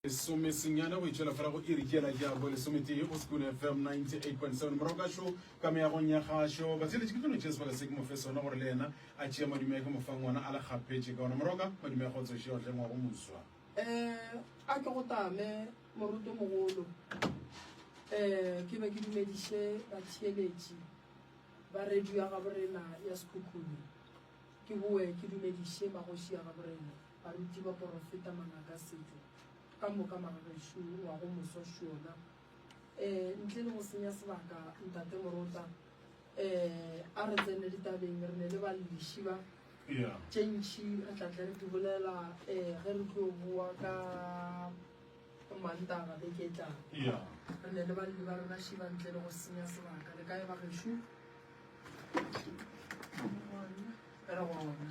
Lesomesenyane go itšwela fela go iri ke yela ke ya bo lesometee go Sekun FM 98.7 morago ka šo ka meagong ya gašo batheletše ke tlono tšea sebaka se ke mo fe sona gore le yena a tšea madume a ke mo fang ona a le kgapetše ka ona morago ka madume a go tsoše ya go tlengwa go moswa. Eh, a ke go tame morutomogolo. Eh, ke be ke dumediše batheeletši ba radio ya gaborena ya Sekhukhune. Ke boe ke dumediše magoši a gaborena. Baruti ba porofeta mangaka setšo ka moka magagešo wa go moswa šona eh ntle le go senya sebaka ntate morota eh a re tsene ditabeng re ne le ba leshiba yeah tše ntši re tla tle re di bolela eh ge re tlo bua ka mantaba be ke tla yeah re ne le ba le ba rena shiba ntle le go senya sebaka le ka e ba gešo re gona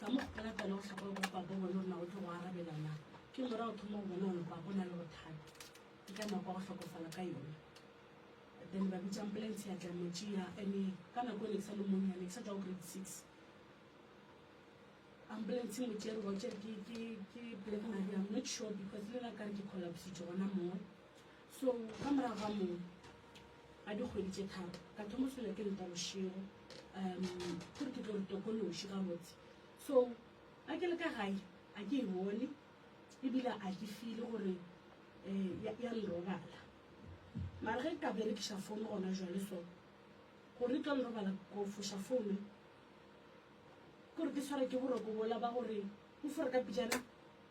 Ka mo go ka tla le go hlapa gore papa bona o na o tlo go arabela na. Ke mora o thoma go bona gore papa o na le bothata. Ke ka nako ya go hlokofala ka yone. Then ba bitsa ambulance ya tla mo tšea ene ka nako ne ke sa le monyane ne ke sa tla go grade six. Ambulance mo tšere go tšere ke ke ke black Maria I'm not sure because le la ka re ke collapsitse gona moo. So ka morago ga moo ga dikgwedi tše tharo ka thomo fela ke leta bošego um gore ke tlo re tokološi ka botse so a ke le ka gae a ke e bone ebile a ke file gore um ya lerobala mara ge ka berekiša founu gona jale so gore tlo lerobala ko foša founu kore ke tshwara ke boroko bola ba gore o fore ka pejana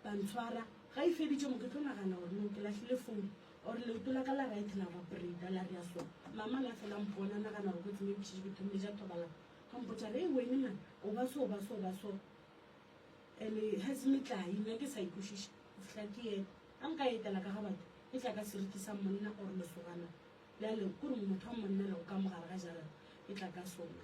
Ba ntshwara, ga e feditše mo ke tlo nagana gore no ke lahlile founu or leoto la ka la right la ba breda la rea so. Mama la fela mpona nagana gore kotsi me botšitše ke thomile ja thobalana. Ga mpotša re e wene man o ba so o ba so o ba so ene has metlae nna ke sa ikwešiše go fihla ke yena a nka etela ka ga batho e tla ka seriti sa monna or lesogana bjale kore motho wa monna le go ka mogare ga jarata e tla ka sona.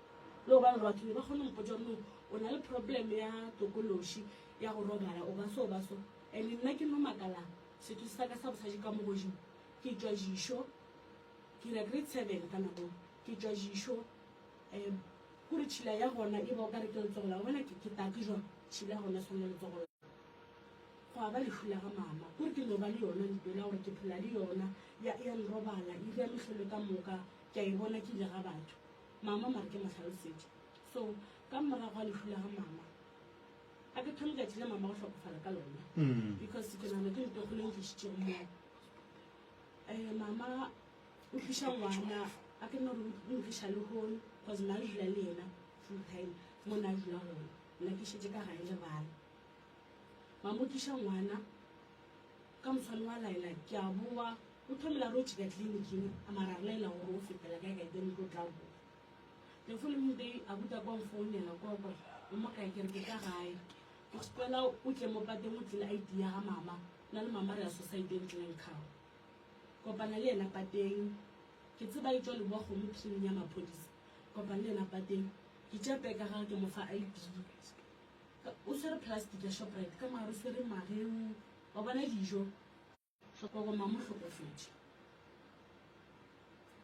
Le go ba gore batho ne ba kgone go mpotsa gore no o na le problem ya tokološi ya go robala o ba so ba so and nna ke no makala setho se sa ka sa bosadi ka mo godimo ke tšwa jišo ke ira grade seven ka nako ke tšwa jišo um kore tšhila ya gona e ba o ka re ke letsogo la bona ke ke take jwang tšhila ya gona e tshwane le letsogo la go a ba lehu la ga mama kore ke no ba le yona ntlo la gore ke phela le yona ya ya nrobala e ira mehlolo ka moka ke a e bona ke ile ga batho Mama, mare ke mo hlalosetše. So, ka morago ga lehu la ga mama, a ke thome tšatši le mama go hlokofala ka lona. Because ke nana ke ntokgolo e ntlišitšego mo. Eh, mama, o tliša ngwana, a ke nore o ntliša le hone, because nna ke dula le yena full time, mo nna dula gona. Nna ke šetše ka gae le bana. Mama o tliša ngwana, Ka moswane wa Laila, ke a boa, o thomela re o tšheka tliliniking, a mara re laela gore o fetela kae kae then o tlo tla boa. The following day, abuta kwa nfounela kwa kwa, o mo kae, ke re ke ka gae. Ke kgopela o tle mo pateng o tlile ID ya ga mama, nna le mama re ya society e ntleng kgao. Kopana le yena pateng, ke tseba e tšwa le boa kgomo pshining ya maphodisa. Kopana le yena pateng, ke tšea peke ya gage ke mo fa ID. O swere plastic ya Shoprite, ka mare o swere mageu, Wa bona dijo ga kwa go ma mo hlokofetše.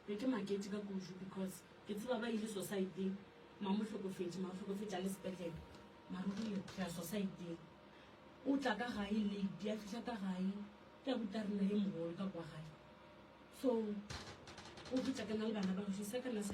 Be ke maketše ka kudu because ke tseba ba ile society ma mo hlokofetše ma hlokofetše a le sepetlele mara o rile re ya society o tla ka gae late ya fihla ka gae ke a buta rena ye mogolo ka kwa gae so o fetša ke na le bana ba go se ka na se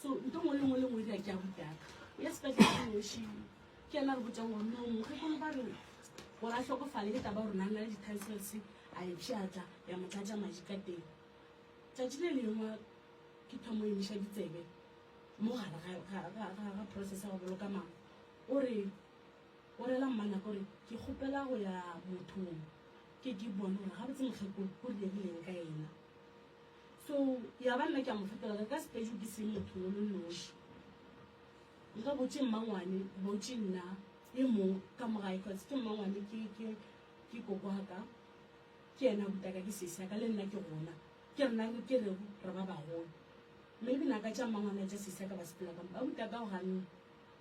so nto ngwe le ngwe le ngwe di a ke a butaka o ya sepetlele ke noši ke ena re botsang gore no mokgekolo ba re gore a tlhokofale ke taba gore nang na le di-titles a e pšatla ya mo tlatša madi ka teng tsatši le lengwe ke thomo emiša ditsebe mo gare ga process ya go boloka mama o re o rela mmana gore ke kgopela go ya mothong ke ke bone gore ga botse mokgekolo o riegileng ka ena So ya ba nna ke a mo fetola ka ka Sepedi ke seng motho o le noši. Nka botše mmangwane, botše nna e mong ka mo gae cause ke mmangwane ke, ke, ke koko wa ka. Ke yena a butaka ke sesi ya ka le nna ke gona. Ke rena re ke rego re ba bagolo. Maybe naka tša mmangwane le tša sesi ya ka ba sepela ka mo. Ba butaka go ganne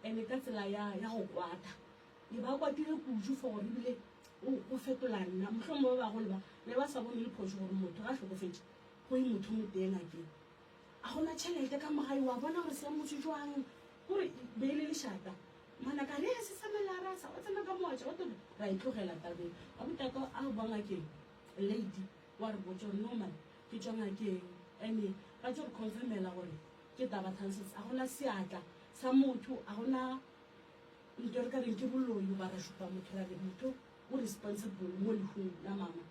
and ka tsela ya, ya go kwata. Ke ba kwatile kudu for gore ebile o fetola nna. Mohlomong ba bagolo ba ne ba sa bone le phoso gore motho ga hlokofetše go e motho mo teng a ke a gona tšhelete ka mogae wa bona gore se motho jwang gore be e le lešata mana ka re se sa melara sa o tsena ka moatša o tore ra e tlogela tabeng a botaka a o banga ke lady wa re botsa gore normal ke tswa ngakeng ene ba tso re confirmela gore ke taba thanses a gona seatla sa motho a gona Lito re ka reng ke boloi goba ra šupa motho ra re motho o responsible mo lehung la mama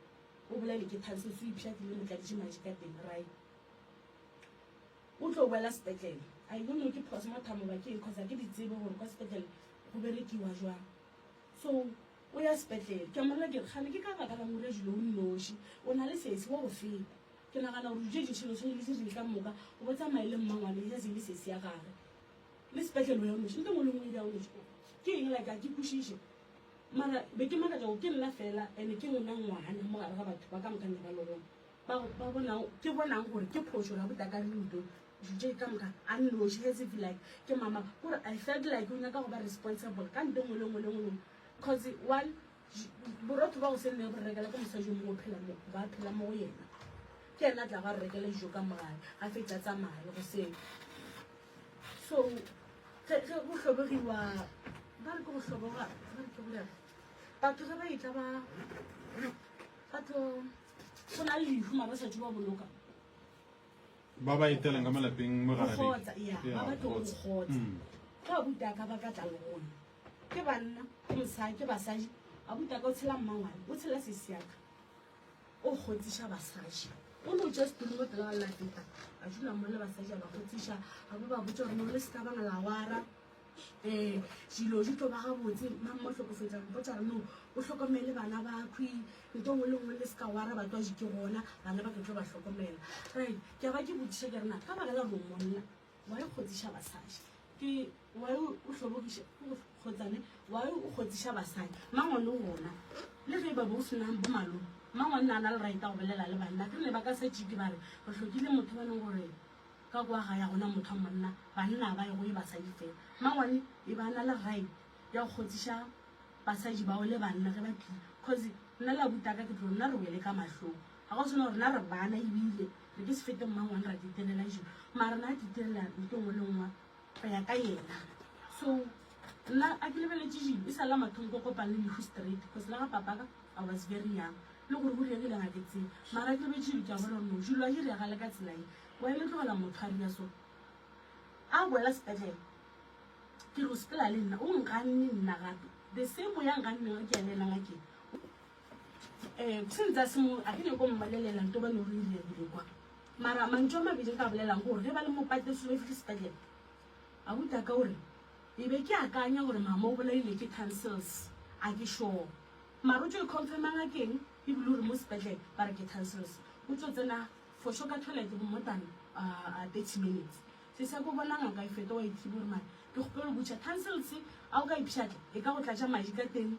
o bolaile ke thanso se ipša ke le motladitše maji ka teng rai o tlo boela sepetlele a e no ke phoso mathamo ba keng kgotsa ke ditsebe gore kwa sepetlele go berekiwa jwang so o ya sepetlele ke mmona ke kgane ke ka baka la ngore jule o nnoši o na le sesi wa go feta ke nagana gore dilo tše dintšhelo tshwane le se reng ka moka o bo tsamaye le mmangwane ya se le sesi ya gage Le sepetlele o ya o noši, le teng o le ngwe ya o noši. Ke eng like a ke kwešiše. Mara be ke makatša gore ke nna fela and ke nna ngwana mo gare ga batho ba ka moka ne ba le gona ba ba bonang ke bonang gore ke phošo la botaka le ludo juje ka moka a noši as if like ke mama gore I felt like o nyaka go ba responsible ka nto ngwe le ngwe le ngwe cause one borotho ba go se nne re rekela ke mosadi o mongwe phela mo ba phela mo go yena ke ena tla ga re rekela dijo ka mogae a fetsa tsamaya le go seo so ge go hlobogiwa ba re ke go hloboga ba re ke gore batho ge ba etla ba batho go na le lehu ma ba sa ba boloka ba ba etelang ka malapeng mo gare ya ba tlo go kgotsa ga buta ka ba ka tla le gone ke banna ke mosadi ke basadi abuta ka o tshela mmangwane o tshela sesiaka o kgotsiša basadi o no ja setolo mo pela ba lateta a dula mo le basadi a ba kgotsiša ga bo ba botsa gore mo le seka bana lawara um dilo di tlo ba gabotse mang mo tlhokofetsa mpotsa re no o tlhokomele bana bakhwi nto ngwe le ngwe le seka wara batswadi ke gona bana ba ke tlo ba tlhokomela right ke a ba ke botsiša ke rena ka bagela romonna Why o kgotsiša basadi? Ke why o hlobogiša kgotsane? Why o kgotsiša basadi? Mang o le gona? Le ge ba bo o senang bo malome, mang o nna a na le right go bolela le banna? Ke ne ba ka setse ke ba re re hlokile motho ba leng gore ka kwa ga ya gona motho wa monna banna ba ego e basadi fela mangwane e ba na le right ya go kgotsiša basadi bao le banna ge ba phile cause nna la butaka ke tlo nna re wele ka mahlong Ga go selo rena re bana ebile re ke se fete mmang one ra ditirela ešo mara rena a ditirela ntho e nngwe le nngwe go ya ka yena so nna a ke lebeletše jile e sa la mathong ko kopang le lehu straight because le ga papaka I was very young le gore go rile ke le ga ke tsebe mara a ke lebetše jile ke a bona no jilo a jire ya gale ka tsela e wa e le tlogela motho a ria so a boela sepetlele ke re o sepela le nna o nganne nna gape the same o ya nganneng re ke ya le ena ngakeng um se ntsa se a ke nyako mmalelela nto ba ne o re ile rile kwa mara mantso a mabedi ka bolelang gore ge ba le mopate selo fitlhe sepetlele a buta ka gore e be ke akanya gore mama o bolaile ke tonsils a ke sure mara o tso e confirma ngakeng ebile o re mo sepetlele ba re ke tonsils o tso tsena for sure ka toilet go more than uh, 30 minutes se se ko bona ngaka e feta wa ithibo gore mara ke kgopelo butšha tonsils a o ka ipšhatla e ka go tlatša madi ka teng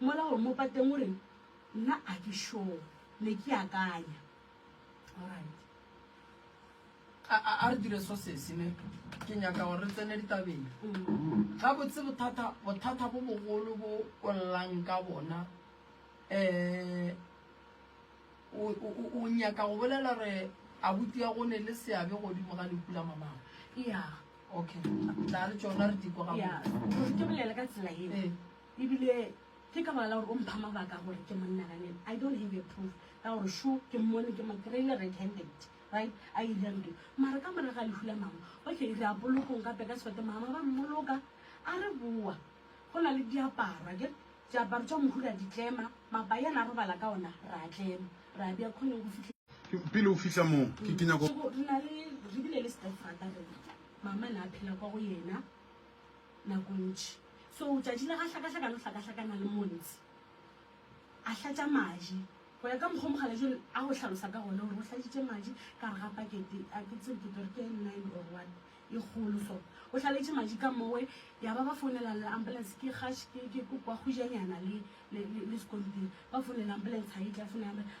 Mola gore mo pateng o reng nna a ke sure ne ke akanya alright. A a a re dire so sesi ne ke nyaka gore re tsene ditabeng ga botse bothata bothata bo bogolo bo o llang ka bona um o nyaka go bolela gore abuti ya go ne le seabe godimo ga lehu la mamago yeah okay tla re tšona re dikwa ga botse yeah ke bolele ka tsela e. Ebile ke ka baka la gore o mpha mabaka a gore ke mo nnaganele. I don't have a proof ya gore šo ke mmone, ke mo kry-ile red handed, right, a e dira ntho e. Mara ka morago ga lehu la mama, okay, re ya polokong gape ka sefate, mama ba mmoloka, a re boa, go na le diaparo, akere, diaparo tša mohu ra di tlema, mapai a na robala ka ona, ra a tlema, ra bea khoneng go fitlhela. Pele o fihla moo, ke, ke nyaka go. Re na le, re bile le stepfather rena, mama na phela kwa go yena. nako ntši. So tšatši la ga hlakahlaka le hlakahlakana le montsi, a hlatša maji, go ya ka mokgwa o Mokgalajwe a go hlalosa ka gona, gore o hlatšitše maji ka gare ga pakete, a ke tsebe ke tlo re ke e nine or one e kgolo so, o hlaletše maji ka mowe, ya ba ba founela le ambulance, ke kgaš ke ke ko kwa kgujanyana le le le le sekontiri, ba founela ambulance ga e tle, a founela ambulance,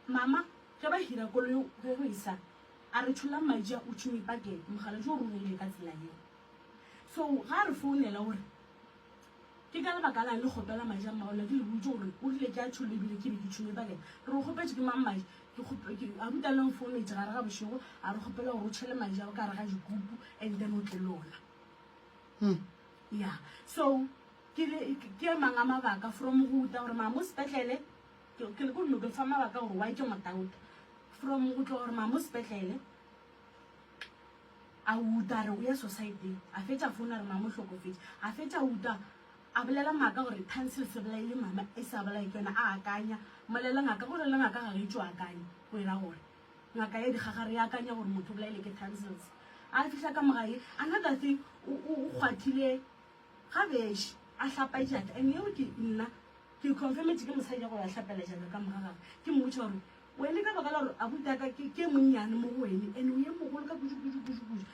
mama ge ba hira koloi ge go e sa, a re tšhollang maji a utšwing pakete, Mokgalajwe o roromile ka tsela yeo. So ga a re founela o re, Ke ka lebaka la'ng le kgopela maje a mmago la? Ke le boditše gore o rile ke a tšholle ebile ke be ke tšholle ba lena. Re o kgopetše ke mang maje? Ke kgope, ke, abuti Allan o nfoumetše gare ga bošego a re kgopela gore o tšhele maje ao ka gare ga dikupu and then o tle le ona. Ya, so ke le, ke, ke a mang a mabaka from go uta gore mama o sepetlele, ke, ke le ko nno ke le fa mabaka gore why ke mo doubt, from go tloga gore mama o sepetlele, a uta a re o ya society a fetša founu a re mama o hlokofetše a fetša uta a bolela ngaka gore tansil se bolaile mama e sa bolae ke yona a akanya molela ngaka gore le ngaka ga re itse o akanya o era gore ngaka ya dikgaga re akanya gore motho o bolaile ke tansils a fihla ka mogae another thing o kgwathile ga beše a hlapa jata and eo ke nna ke confirmetse ke mosadi ya gore a hlapela jalo ka moga gage ke mmotsa gore Wene ka baka la gore abutaka ke ke monnyane mo go wene and o ye mogolo ka kudu kudu kudu kudu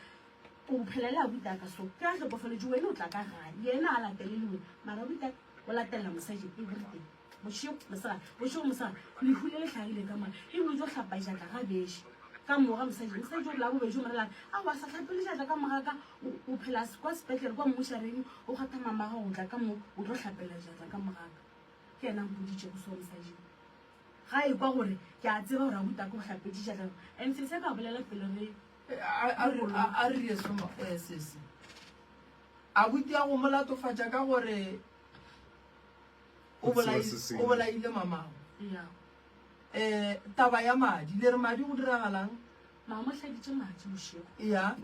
o bophela le abutaka so ke a hlokofaletse wene o tla ka gae yena a latele le wene mara abutaka o latelela mosadi everything bošego mosega bošego mosega lehu le le hlagile ka mora e bile o tlo hlapa jatla ga beše ka mora mosadi mosadi o la bobedi o morela a wa sa hlapele jatla ka mora ka o phela kwa sepetlele kwa mmushareng o kgatha mamaga go tla ka mo o tlo hlapela jatla ka moraka ke yena mpoditšego so mosadi Ga a ekwa gore ke a tseba gore a butako go hlapetše tšatlego and sese a ka bolela pele re a re ye somo eh, sese a butia go mo latofatša ka gore o bolaile mamago um taba ya madi le re madi go diragalang maa mo hladitše madi bošego ya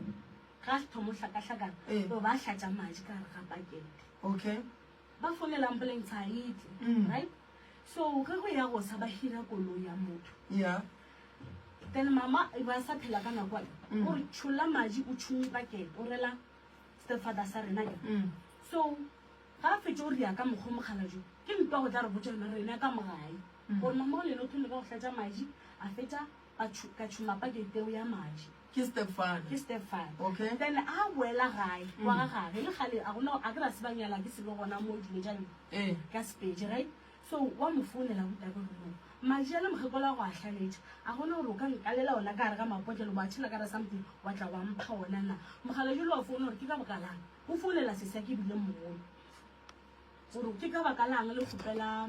ga a se thomo hlakahlakana o ba hlatša madi ka gare ga pakete okay Ba fonela ambulance ha e tle, right? So ge go ya go sa ba hira koloi ya motho. Yeah. Then mama e ba sa phela ka nako e. O re tšholla maji o tšhumme pakete o rela stepfather sa rena ke. So ga a fetše o ria ka mokgwa mogala jo ke ntwa go tla re botša yona rena ka mogae gore mama o lele o thomile ka go hlatša maji a fetša ka tšhu, ka tšhuma pa geiteo ya Maji. Ke stepfather. Ke stepfather. Okay. Then a boela gae, mm. kwa ga gage, le gale, a gona, a ke ra se ba nyala, ke selo gona mo dilo tša lena. Eh. Ka Sepedi, right? So, wa mo founela go tabe go mo. Maji a le mogekola go a hlaletša. A gona gore o ka nkalela ona ka gare ga mapotlelo, ba tšhela ka ra something, wa tla wa mpha ona na. Mogala jolo wa founa gore ke ka bokalang. O founela sesa ke bile mogolo. Gore ke ka bakalang le kgopela